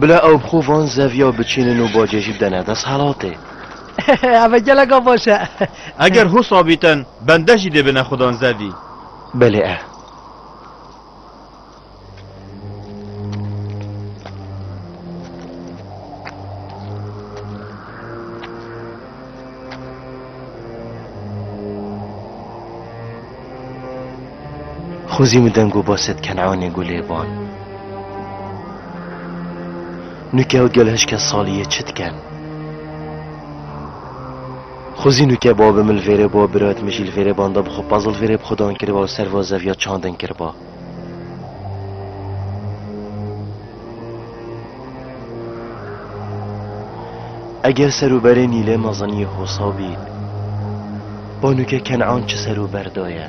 Bila ew bi xwe van zeviya biçînin û bacê jî bidene desthilatê. Ev e geleka baş e. Eger hûs abîtin bende jî dê bine xwedan zevî. Belê e. Xwezî min deng û baset Kenanê gulê ban. Nuke û gel hişke saliyê çi diken? Xwezî nuke babi min li vêrê bo, birayet min jî li vêrê banda bi xwe puzzle vêrê bi xwe dan kiriba û serva zeviya çandin kiriba. Eger serûberê Nîlê Meziniyê hosa bîn, banûke Kenan çi serûber daye?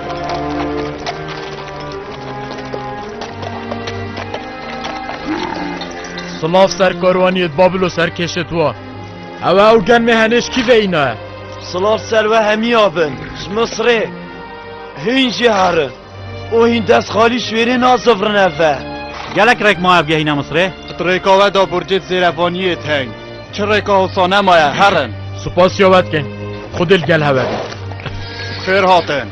Silav ser karwaniyê di Babilo serkêşê tu a. Ew ew gen mê henêş kî veyna ye. Silav ser we hemiya bin. Ji Misrê. Hîn jî herin. û hîn dest xalî ji wêrê nazivrin ev ve. Gelek rek ma ev gehîne Misrê. Rêka we da burcê di zêrevaniyê teng. Çi rêka wisa nemaye herin. Spas ya we dikin. Xwedê li gel hev e. Xêr hatin.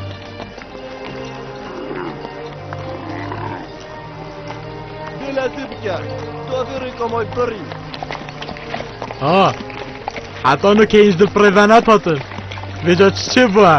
Dê lezî bike. Tu evê rêka may birî. Ha. Heta nu keyî ji di pirê ve nepatin. Vêca çi çê bû e.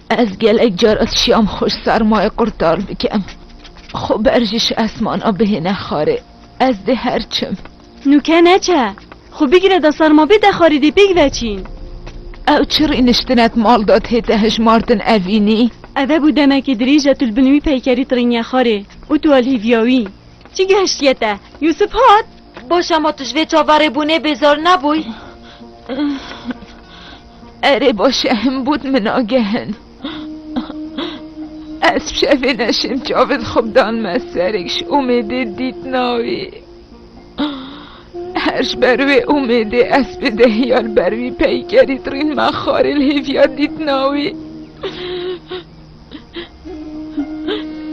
Ez gelek car ez şiyam xwe ji sermayê qurtar bikim. Xwe ber jî ji esmana bihêne xarê. Ez dê her çim. Nûke neçe. Xwe bigire da serma bê de xarê dê pêk veçîn. Ew çi rîniştinek mal da tête hijmartin evînî? Eve bû demekê dirêj e tu li bin wî peykerî tirînye xarê û tu alhîviya wî. Çi gihiştiye te? Yûsif hat? Baş e ma tu ji vê çaverêbûnê bêzar nebûy? Erê baş e hin bût min agehin. Ez şevê neşêm çavê di xwe bidan me serek ji umêdê dît navê. Her ji ber wê umêdê ez bi dehiya li ber wî peykerî dirîn me xarê li hêviya dît navê.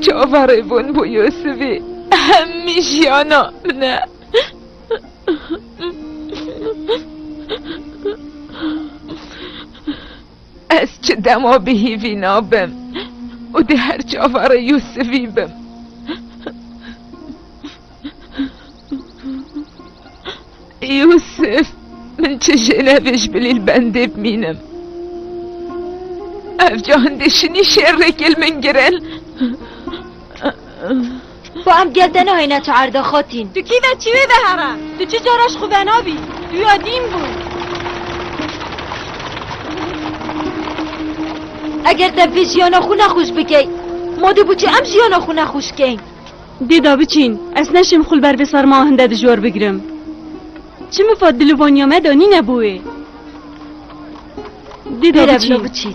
Çavarê bûn bû Yusufî hemî jiyana min e. Ez çi dema bi hîvî nabim û di her çavarê Yusufî bim. Yusuf, min çi jênevê ji bilîl bendê bimînim. Ev ca hindê şinî şêrrêkê li min girin. Xwe em gel te nahêne tu erde xatîn. Tu kî ve çi wê vehera? Tu çi cara ji xwe venabî? Tu ya dîn bû. Eger te bi jiyana xwe nexweş bikey, madê bû çi em jiyana xwe nexweş keyn? Dê da biçîn. Ez neşim xwe li ber vê serma hin de dijwar bigirim. Çi mifa dil û vaniya me de nîne bo wê. Dê da Bêre bila biçîn. biçîn.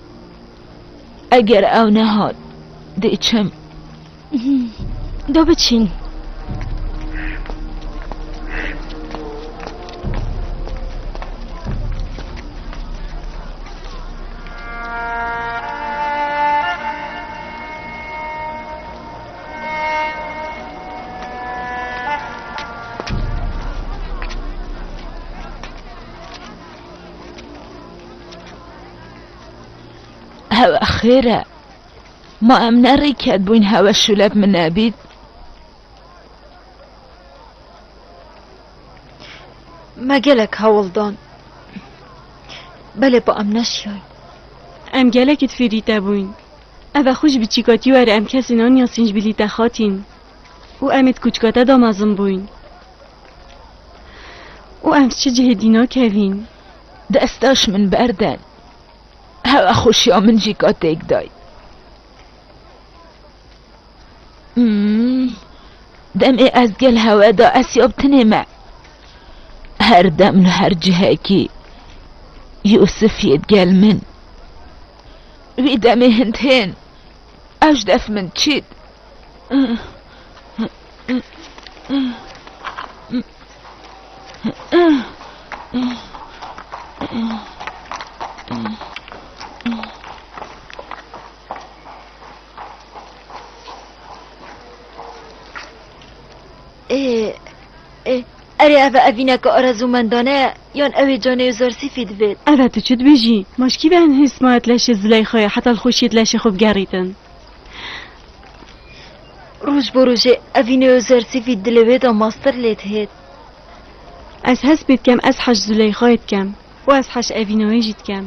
Eger ew nehat dê çim. Do biçîn. Hewe xêr e. Ma em ne rêket bûyn hewe şûlek min nebît. Me gelek hewl dan. Belê pa em neşiyay. Em gelekî di fêrî te bûyn. Eve xwe ji biçîka tî were em kesê naniya sînjbîlî te xatîn. Û em ê di kûçika te da mezin bûyn. Û em ji çi cihê dî nakevîn? Destaş min berden. Hewa xweşiya min jî ka têk day. Demê ez gel hewe da esyab tinê me. Her dem li her cihekî Yûsif yê gel min. Wî demê hindhên ew ji def min çît. Erê ev e evîneke arezûmendane ye yan ew ê canê wî zersîfî divêt. Ev e tu çi dibêjî? Ma ji kî ve hin hêrsma ye tu leşê Zileyxayê heta li xweşiyê tu leşê xwe bigerîtin? Roj bo rojê evînê Özer TV dilê wê de master lê dihêt. Ez hespê dikem ez heş Zuleyxayê dikem û ez heş Evînayê jî dikem.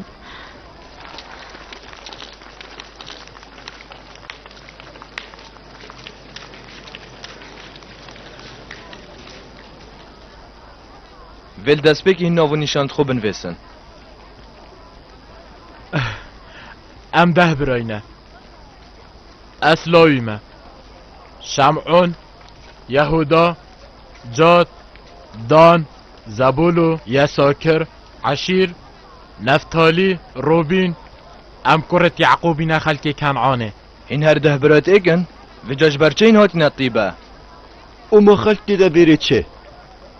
Vê li destpêkê hîn nav û nîşan di xwe binivêsin. Em deh birayî ne. Ez lawî me. Şem'ûn, Yehûda, Cad, Dan, Zebûlu, Yesakir, Eşîr, Neftalî, Rûbîn, em kurê Ye'qûbî ne xelkê Ken'anê. Hîn her deh bira têk in, vêca ji ber çi hîn hatine tîbe? Û ma xelk tê de bêrê çi?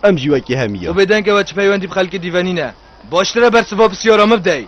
Em jî wekî hemî ye. Û bêdeng ew e çi peywendî bi xelkê dî venîne? Baştir e bersiva pisyara min bidey.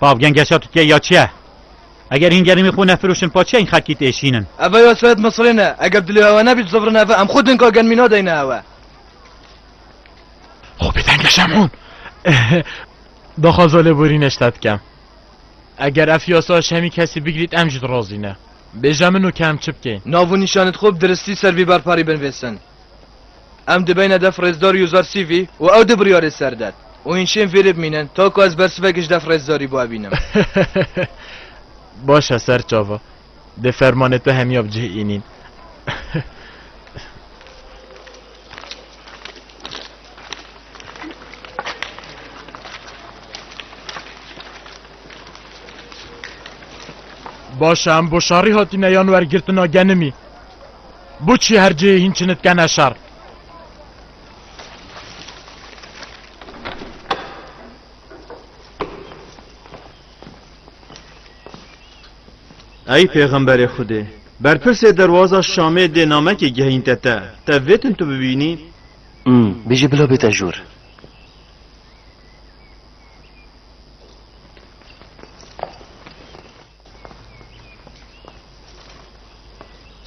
Pav gengeşa Tutiyê ya çi ye? Eger hîn gerîmî xwe nefiroşin pa çiya hîn xelkî têşînin? Eve ya Seyed Misrê ne. Eger dilê hewe nebî zivrin eve em xwe dinka germî nadeyne hewe. Xwe bê tengeşem hûn. Daxwaza lêborîne ji te dikem. Eger ev yasa ji hemî kesî bigirît em jî dirazîne. Bêje min û ke em çi bikên. Nav û nîşanê xwe bi diristî ser vî barparî binivîsin. Em dibeyne def rêzdarî û zar sîvî û ew di biryarê ser der û hîn şên vê rê bimînin ta ku ez bersivek ji def rêzdarî bûe bînim. Baş e serçava. Dê fermanê te hemiya bi cih înîn. Baş e em bo şarî hatîne yan wergirtina genimî. Bu çi her cihê hîn çinit kene şer. Ey pêxemberê Xwedê! Berpirsê derwaza Şamê dê namekê gehînte te. Te vê tim tu bibînî? Ûm, bijî bila bê te jûr.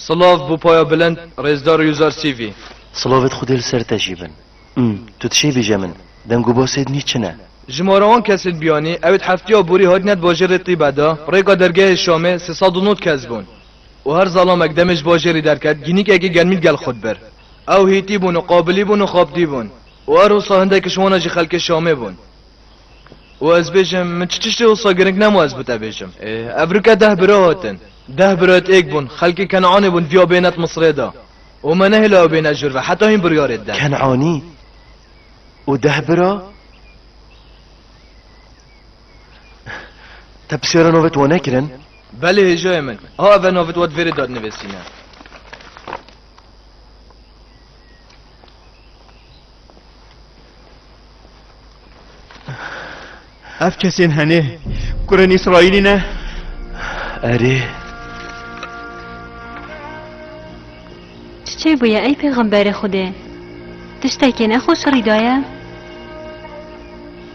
Silav bo paya bilind Rêzdar Yuzar Sîvî. Silavê Xwedê li ser te jî bin. Umm, tu tişê bîje min, deng û basê dinî çi ne? Ji mara wan kesên biyanî, ew ê di hefteya borî hatine di bajêrê Tîbe de, rêka dergehê Şamê sê sed û nod kes bûn. Û her zalamek demê ji bajêrî derket, gînîkekî germî li gel xwe dibir. Ew hîtî bûn û qabilî bûn û xaptî bûn. Û her wisa hindekiş wan a jî xelkê Şamê bûn. û ez bêjim min çi tiştê wisa giring nema ez bi te bêjim. Ev rike deh bira hatin. Deh birayet êk bûn, xelkê Keneanê bûn viya bênet Misirê de û me nehêlaya bêne jûr ve heta hîn biryarê dide. Keneanî û deh bira? Te pisyara navê te wan nekirin? Belê hêjayê min. A ev e navê te wat vêrê dadnivêsîne. Ev kesên henê kurên İsraîlî ne? Erê. Çiçê bûye ey pêxemberê Xwedê. Tiştekê nexweş rîdaye?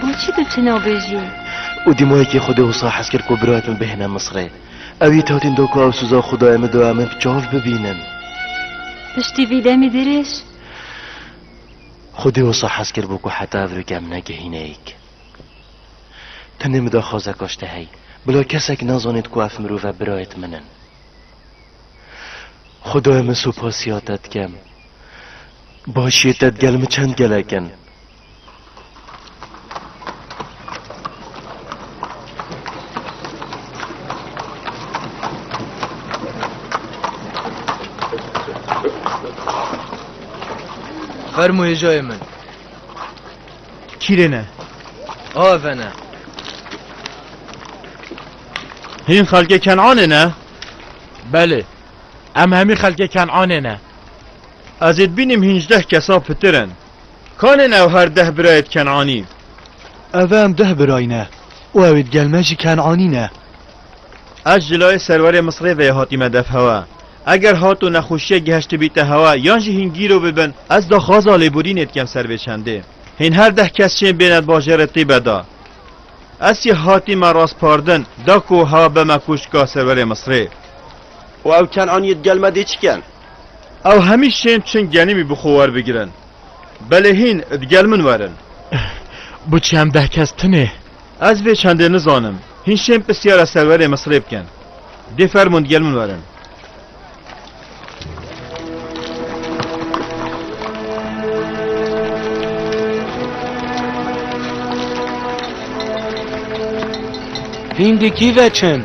Boçî tu çi nabêjî? Û dîmayekî xwedê wisa hez kir ku birayek min bihêne Misrê. Ew yê tewtên da ku ew sûza xwe daye min doya min bi çav bibînim. Piştî vî demî dirêj. Xwedê wisa hez kiribû ku heta ev rûke min negihîne yek. Tenê min da xwezeka ji te hey. Bila kesek nazanêt ku ev mirov e birayet min in. Xwedaya min supasiya te dikim. Başiyê te digel min çend gelek in. Fermo hêjayê min. Kîrêne. Avene. Hîn xelkê Kenanê ne? Belê. Em hemî xelkê Kenanê ne. Ez ê dibînim hînjdeh kesa pitir in. Kan in ew her deh birayê di Ken'anî? Ev em deh birayî ne û ewê di gel me jî Ken'anî ne. Ez ji layê serwerê Misrê ve ye hatîme dev hewa. Eger hat û nexweşiyek geheştibîte hewa yan jî hîn gîro bibin ez daxwaza lêborînê dikem ser vê çendê. Hîn her deh kes çên bêne di bajêrê tîbe de. Ez jî hatîme raspardin da ku hewa bime kûşka serwerê Misrê. Û ew Ken'aniyê di gel me dê çi ken? Ew hemî şên çin genîmî bi xwe werbigirin. Belê hîn di gel min werin. Bu çend deh kes tinê? Ez vê çendê nizanim. Hîn şên pirsyara serwerê Misirê bikin. Dê fermûn di gel min werin. Hîn di kî ve çin?